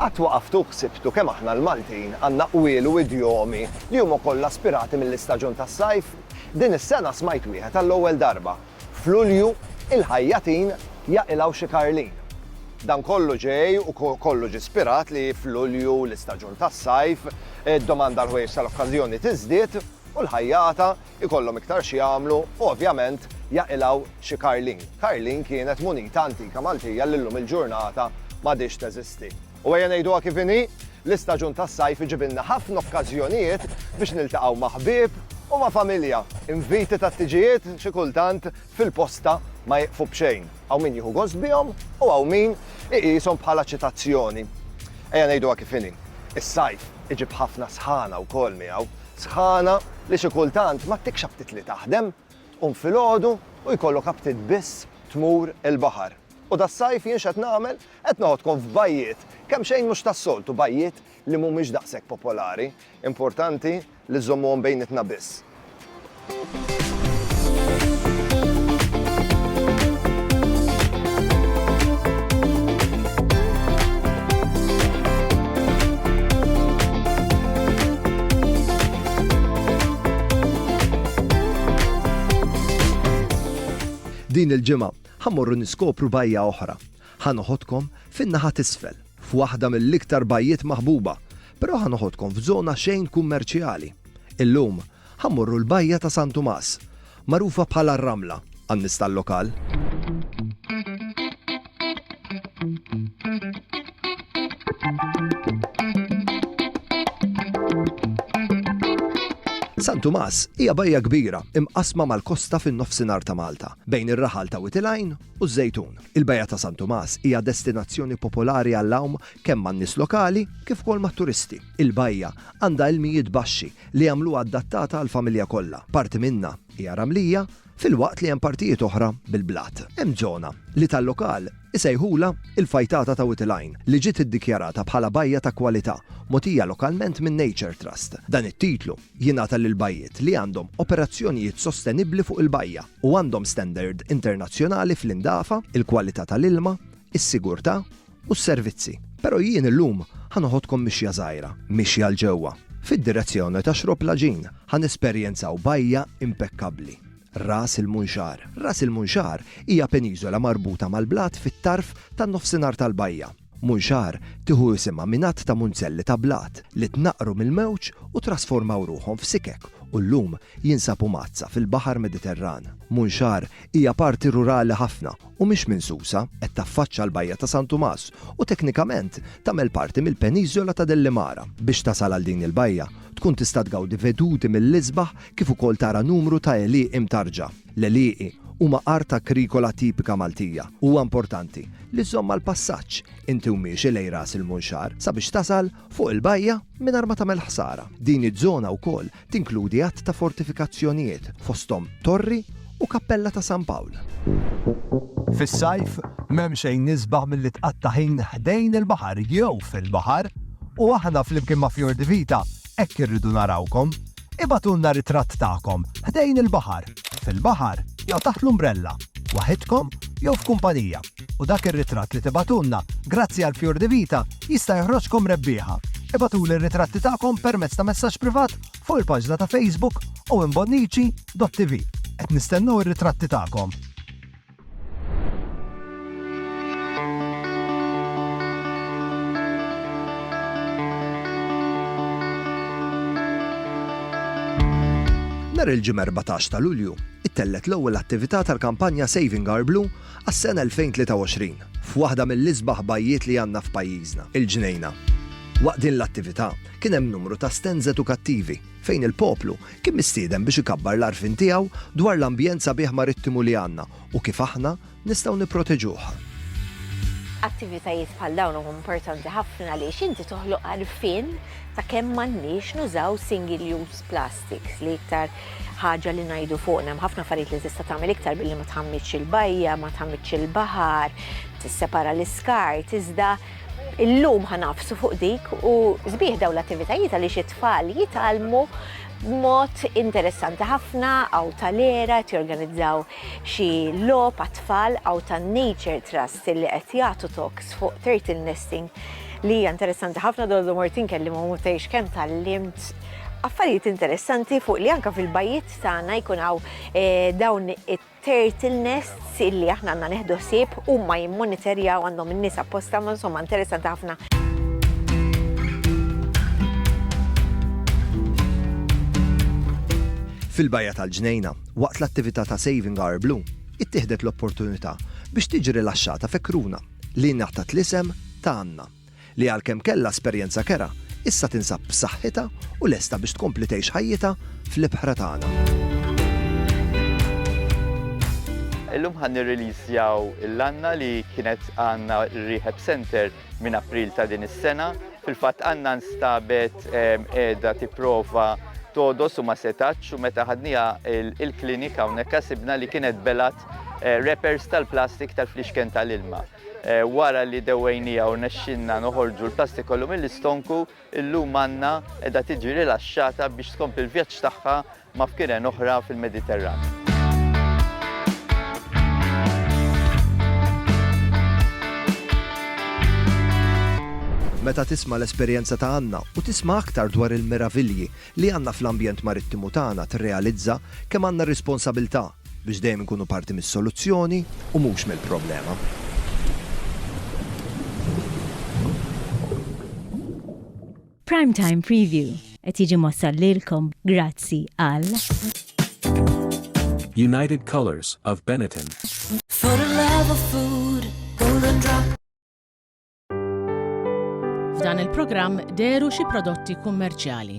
Qatt waqaftu u ħsibtu kemm aħna l-Maltin għandna qwiel u idjomi li huma kollha ispirati mill-istaġun tas-sajf? Din is-sena smajt wieħed għall-ewwel darba. F'Lulju, il-ħajjatin jaqilgħu xi karlin. Dan kollu ġej u kollu ġie spirat li f'Lulju, l-istaġun tas-sajf, id-domanda għall-ħwejjeġ tal-okkażjoni tiżdied u l-ħajjata jkollhom iktar x'jagħmlu u ovvjament jaqilgħu xi karlin. Karlin kienet munita antika Maltija li llum il-ġurnata m'għadhiex teżisti. U ejja ngħiduha kif inhi, l-istaġun tas-sajf iġibilna ħafna okkażjonijiet biex niltaqgħu ma' ħbieb u ma' familja. Inviti tat-tiġijiet xi kultant fil-posta ma jiqfu b'xejn. Hawn min jieħu gost bihom u hawn min iqishom bħala ċitazzjoni. Ejja ngħiduha kif inhi, is-sajf iġib ħafna sħana wkoll miegħu. Sħana li xi kultant ma ttikx aptit li taħdem. Tqum filgħodu u jkollok aptit biss tmur il-baħar. U das-sajf jien x'qed nagħmel? Qed noħodkom f'bajjiet kemm xejn mhux tas-soltu, bajjiet li mhumiex daqshekk popolari. Importanti li żżommuhom bejnietna biss. Din il-ġimgħa, Ħa mmorru niskopru bajja oħra. Ħa noħodkom fin-naħa t'isfel, f'waħda mill-iktar bajjiet maħbuba, però ħa noħodkom f'żona xejn kummerċjali. Illum, ħa mmorru l-bajja ta' San Tumas, magħrufa bħala r-Ramla għan-nies tal-lokal. San Tumas hija bajja kbira imqasma mal-kosta fin-nofsinhar ta' Malta, bejn ir-raħal ta' Witilajn u Żejtun. Il-bajja ta' San Tumas hija destinazzjoni popolari għall-għawm kemm man-nies lokali kif ukoll mat-turisti. Il-bajja għandha ilmijiet baxxi li jagħmluha adattata għall-familja kollha. Parti minnha hija ramlija filwaqt li hemm partijiet oħra bil-blat. Hemm żona, li tal-lokal isejħulha l-Fajtata ta' Wied il-Għajn, li ġiet iddikjarata bħala Bajja ta' Kwalità, mogħtija lokalment minn Nature Trust. Dan it-titlu jingħata lil bajjiet li għandhom operazzjonijiet sostenibbli fuq il-bajja u għandhom standard internazzjonali fl-indafa, il-kwalità tal-ilma, is-sigurtà, u s-servizzi. Però jien illum ħa noħodkom mixja żgħira, mixja 'l ġewwa, fid-direzzjoni ta' Xrob Laġin. Ħa nesperjenzaw bajja impekkabbli, Ras il-Munxar. Ras il-Munxar hija peniżola marbuta mal-blat fit-tarf tan-nofsinhar tal-bajja. Munxar tieħu isimha minn għadd ta' munzelli ta' blat li tnaqqru mill-mewġ u trasformaw ruħhom f'sikek u llum jinsabu mgħaddsa fil-baħar Mediterran. Munxar Hija parti rurali ħafna u mhix minsusa, qed taffaċċa l-Bajja ta' San Tumas u teknikament tagħmel parti mill-Peniżola ta' Dellimara. Biex tasal għal din il-bajja, tkun tista' tgawdi veduti mill-isbaħ kif ukoll tara numru ta' għelieqi mtarrġa. L-għelieqi huma art agrikola tipika Maltija u huwa importanti li żżomm mal-passaġġ inti u miexi lejn Ras il-Munxar sabiex tasal fuq il-bajja mingħajr ma tagħmel ħsara. Din iż-żona wkoll Tinkludi għadd ta' fortifikazzjonijiet, fosthom torri u kappella ta' San Pawl. Fis-sajf, m'hemm xejn isbaħ milli tqatta' ħin ħdejn il-baħar jew fil-baħar u aħna flimkien ma' Fior di Vita hekk irridu narawkom. Ibagħtulna ritratt tagħkom ħdejn il-baħar, fil-baħar jew taħt l-umbrella, waħidkom jew f'kumpanija. u dak ir-ritratt li tibagħtulna, grazzi għal Fjur di Vita, jista' joħroġkom rebbieħa. Ibagħtuli r-ritratti tagħkom permezz ta' messaġġ privat fuq il-paġna ta' Facebook owenbonnici.tv. Qed nistennew ir-ritratti tagħkom! Nhar il-Ġimgħa 14 ta' Lulju, ittellgħet l-ewwel attività tal-kampanja Saving Our Blue Għas-sena 2023, f'waħda mill-isbaħ bajjiet li għandna f'pajjiżna, il-Ġnejna. Waqt din l-attività, kien hemm numru ta' stands edukattivi, fejn il-poplu kien mistieden biex ikabbar l-għarfien tiegħu dwar l-ambjent sabiħ marittimu li għandna u kif aħna nistgħu nipproteġuh. Attivitajiet bħal dawn huma importanti ħafna għaliex inti toħloq għarfien ta' kemm m'għandniex nużaw single-use plastik. dik l-iktar ħaġa li ngħidu fuqna. Hemm ħafna affarijiet li tista' tagħmel iktar billi ma tħammitx il-bajja, ma tħammitx il-baħar, tissepara l-iskart, iżda illum ħanafsu fuq dik u sbieħ daw l-attivitajiet għaliex it-tfal jitalmu mod interessanti ħafna għaw tal-era jorganizzaw xi lop għat-tfal għaw tan-Nature Trust li qed jagħtu talks fuq turtle nesting li hija interessanti ħafna dollu mort inkellimhom u tgħix kemm tallimt affarijiet interessanti fuq li anka fil-bajiet tagħna jkun hawn eh, dawn it-turtle nests illi aħna għandna neħdu ħsieb huma jimmonitorjaw għandhom in-nies apposta ma insomma interessanti ħafna. Fil-bajja tal-ġnejna, waqt l-attività ta' Saving Our Blue, ittieħdet l-opportunità biex tiġi rilaxxata fekruna li ngħatat l-isem ta' Anna, li għalkemm kellha esperjenza kerha, issa tinsab b'saħħitha u lesta biex tkompli tgħix ħajjitha fl-ibħra tagħna. Illum ħa nirriliżjaw l-Anna li kienet għandna r-Rehab Centre minn April ta' din is-sena. Fil-fatt Anna nstabet qiegħda tipprova todos u ma setax u meta ħadnija il-klinika hawnhekk sibna li kienet belat eh, repers tal-plastik tal-flixken tal-ilma. Eh, wara li dewejnija u nexxinna noħorġu l-plastik kollu mill-istonku, illum għanna edha tiġi rilaxxata biex tkompli l-vjaġġ tagħha ma' fkiren oħra fil-Mediterran. Meta tisma' l-esperjenza ta' Anna u tisma' aktar dwar il-meravilji li għandna fl-ambjent marittimu tagħna tirrealizza kemm għandna responsabiltà biex dejjem inkunu parti mis-soluzzjoni u mhux mill-problema. Prime Time Preview qed jiġi mossal lilkom grazzi għal United Colors of Benetton. For the love of food, golden drop. F'dan il-programm deru xi prodotti kummerċjali.